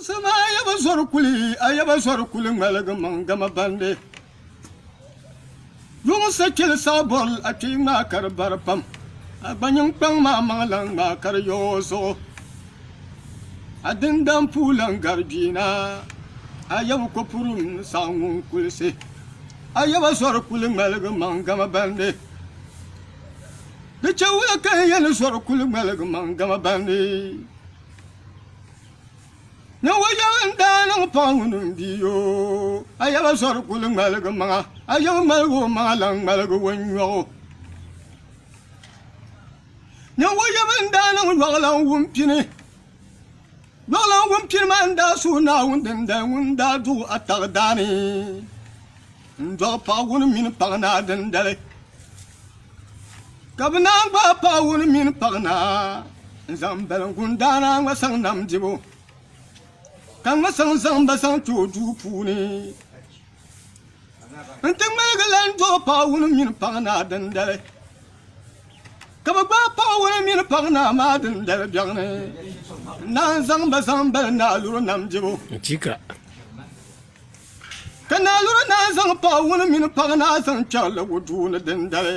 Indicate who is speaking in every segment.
Speaker 1: Sama a ya ba zɔri kuli, a ya ba zɔri kuli ŋmaligi maŋ gama bandi. Yuŋ sa kpeli saɣi bɔril a kpee ŋmaa ka di bari pam. A gba nyin kpaŋ ma a maŋ lan ŋmaa ka di yo o zuɣu. A din dan puu lan gari gbiina, a ya bi ko puri m saɣi ŋun kulisi. A ya ba zɔri kuli ŋmaligi maŋ gama bandi. Di chɛ wula ka n ya ni zɔri kuli ŋmaligi maŋ gama bandi? Ninvuɣ yɛbu n daa niŋ paɣ ŋuni n bi yo a yaba zɔri kuli ŋmaligi maŋa a yaba ŋmaligi o maŋa lan ŋmaligi o nyɔɣu ninvuɣ yɛbu n daa niŋ yɔɣilan wumpini yɔɣilan wumpini maa n daa suhi Naawuni dindali ŋun daa duɣi a taɣidaani N dɔɣi paɣ wuni mini paɣ naa dindali, ka bɛ naan gbaai paɣ wuni mini paɣ naa n-zaŋ bali n-gundaana a ŋma saŋ nam dibu, ka ŋma saŋ zaŋ ba zaŋ ti o duu puuni. Nti ŋmaligi lan dɔɣi paɣ wuni mini paɣ naa dindali, ka bɛ gbaai paɣ wuni mini paɣ naa maa dindali biɛɣ ni, n-naan zaŋ ba zaŋ bali naaluri nam dibu. Ka naa yuri naa zaŋ paawuni mini paɣa naa zaŋ kpɛrili o duu ni dindali.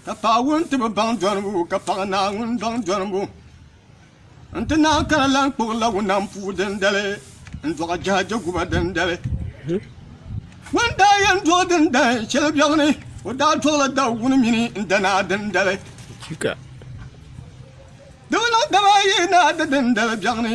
Speaker 1: Ka paawuni ti bi baŋ dɔnibu ka paɣa naa ŋun baŋ dɔnibu n-ti naan kana lan kpuɣi lawunam puu dindali n-dɔɣi jɛha jɛguba dindali. Ŋun daa yɛn dɔɣi dindali shɛli biɛɣu ni, o daa dɔɣila dawuni mini n danaa dindali. Di bi niŋ daba ayi ni a di dindali biɛɣu ni.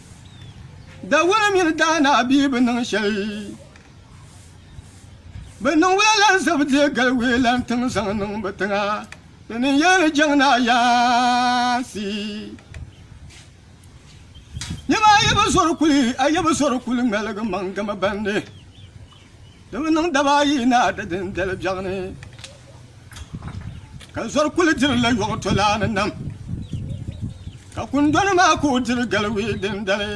Speaker 1: Dawura mini daana bia bi niŋ shɛli Bi niŋ wula lan zab deei gali wee lan tiŋ zaŋ niŋ bi tiŋa Di ni yɛli ni jɛŋ ni ayaansi Nɛma a yi bi zɔri kuli a yi bi zɔri kuli ŋmaligi maŋ gama bandi Di mi niŋ daba ayi ni a di din dali biɛɣu ni, ka zɔri kuli diri la yɔɣu tolaa ni nam. Ka kundɔni maa ka o diri galiwii din dali,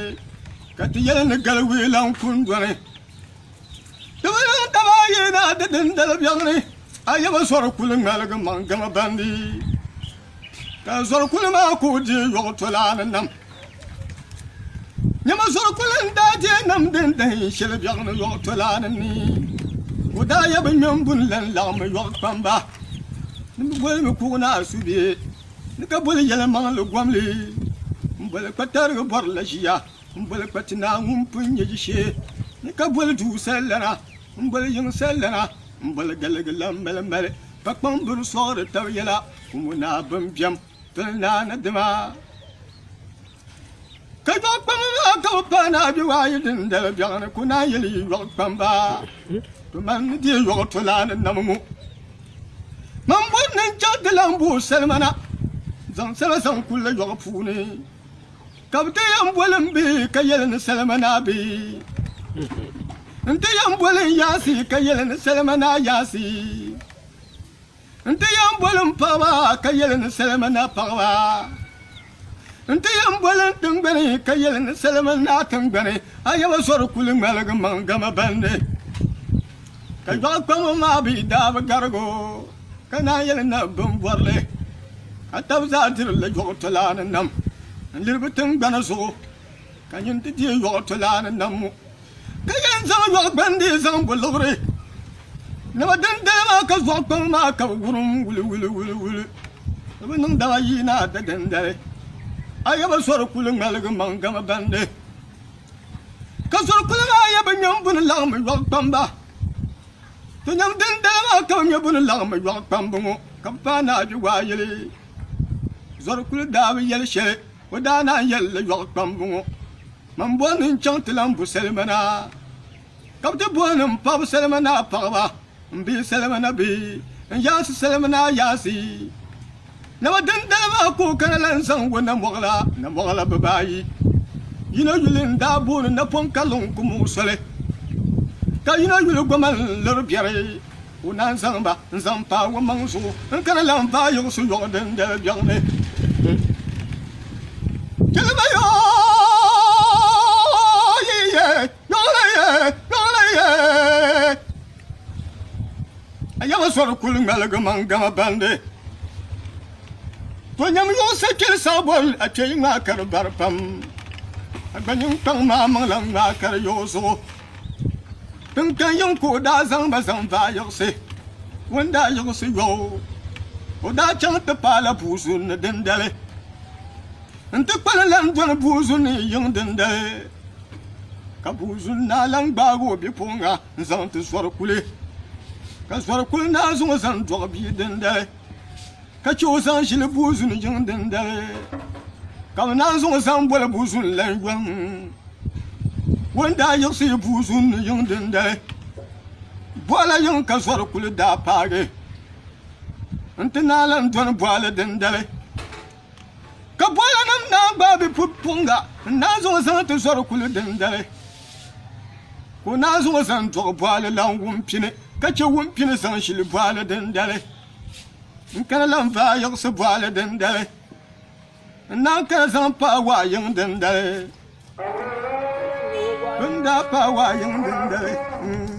Speaker 1: ka ti yɛli ni galiwii lan kundɔni. Di mi niŋ daba ayi ni a di din dali biɛɣu ni, a yaba zɔri kuli ŋmaligi maŋ gama bandi. Ka zɔri kuli maa ku deei yɔɣu tolaani nam. Nyama zɔri kuli n daa deei nam din dahin shɛli biɛɣu ni yɔɣu tolaani ni. O daa yabi ŋmɛmbu n lan laɣimi yɔɣu kpamba. Ni mi boli mi kuɣu naa subihi ni ka boli yɛlimaŋli gomli n boli kpa tarigi bɔri la ʒiya n boli kpa ti naa ŋun pun nyɛ ʒishee ni ka boli duu sallana n boli yiŋ sallana. M boli galigi la m mali mali ka kpaŋ biri sɔɣiri tab yɛla kumu naa bɛn bɛm pili naa ni dima ka yɔɣ kpamba maa ka bɛ paai naa bɛ waa yi din dali bɛɣu ni ko naa yɛli yi yɔɣ kpamba to man ni dee yɔɣ to laa ni nam ŋɔ man bɔri ni n chaŋ ti lan booi salima na zaŋ salima zaŋ kuli la yɔɣ puuni ka bi ti yɛn boli n bihi ka yɛli ni salima naa bihi n ti yɛn boli n yaasi ka yɛli ni salima naa yaasi n ti yɛn boli n paɣaba ka yɛli ni salima naa paɣaba n ti yɛn boli n tingbani ka yɛli ni salima naa tingbani a yaba sori kuli ŋmaligi maŋ gama bandi Ka dɔɣi kpambo maa bi daa bi garigo ka naan yɛli na bin bɔrili ka tab zaa diri li yɔɣu tolaa ni nam n liri bi tingbana zuɣu ka nyin ti deei yɔɣu tolaa ni nam ŋɔ ka yɛn zaŋ yɔɣu gbandi zaŋ bo liɣiri naba din daya maa ka zɔɣu kpambo maa ka bi wurim wuli wuli wuli wuli ni bi niŋ dama yi naa da dindali a yaba sɔri kuli ŋmaligi maŋ gama bandi Ka zuri kuli maa yɛ bi nyɛm bu ni laɣim yɔɣu kpamba. Ti nyɛm din dali maa ka bi nyɛ bu ni laɣim yɔɣu kpambu ŋɔ ka bi paai ni a bi waa yili. Zuri kuli daa bi yɛli shɛli o daa naan yɛli li yɔɣu kpambu ŋɔ. Man boli ni n chaŋ ti lan bu salima na. ka bɛ ti bɔhi ni m paɣib salima ni a paɣiba, m bihi salima ni bɛ n yaansi salima ni a yaansi. Nama dindali maa ka o kana la n-zaŋ wo Namɔɣila, Namɔɣila bibaayi. Yino yuli n-daa booni Napɔŋ ka luŋ ku muɣi soli, ka yino yuli goma n-liri biɛri. O naan zaŋ ba n-zaŋ paai womaŋ zuɣu n-kana la n-vaai yiɣisi yɔɣi dindali biɛɣu ni. Chɛli ba yoo yi yɛli. Ayɛbisɔri kuli ŋmaligimi n-gama bandi To nyam yuɣisi kpiri saɣibɔl a kpe yi ŋmaa ka di bari pam A gba ninkpaŋ maa maŋla ŋmaa ka di yuɣi zuɣu Tiŋkpɛn yiŋ ka o daa zaŋ ba zaŋ vaai yiɣisi O ni daa yiɣisi yɔbu o daa chaŋ ti paai la bua zuli ni dindali n ti kpani lan doli buuzu ni yiŋ dindali ka buuzu naa lan gbaagi o bipuɣiŋga n-zaŋ ti Zɔrikuli ka Zɔrikuli naa zaŋ o zaŋ dɔɣi bia dindali ka chɛ o zaŋ ʒili buuzu ni yiŋ dindali ka bɛ naan zaŋ o zaŋ boli buuzu ni lan yɔŋ o ni daa yiɣisi yi buuzu ni yiŋ dindali bɔɣila yiŋ ka Zɔrikuli daa paagi n-ti naa lan doli bɔɣili dindali Ka bɔlanim naan gbaai bi pupuŋga n-naan zaŋ o zaŋ ti zɔri kuli dindali. Ka o naan zaŋ o zaŋ dɔɣi bɔɣili lan wumpini, ka chɛ wumpini zaŋ ʒili bɔɣili dindali. N kana lan vaai yiɣisi bɔɣili dindali, n-naan kana zaŋ paai waɣ yiŋ dindali.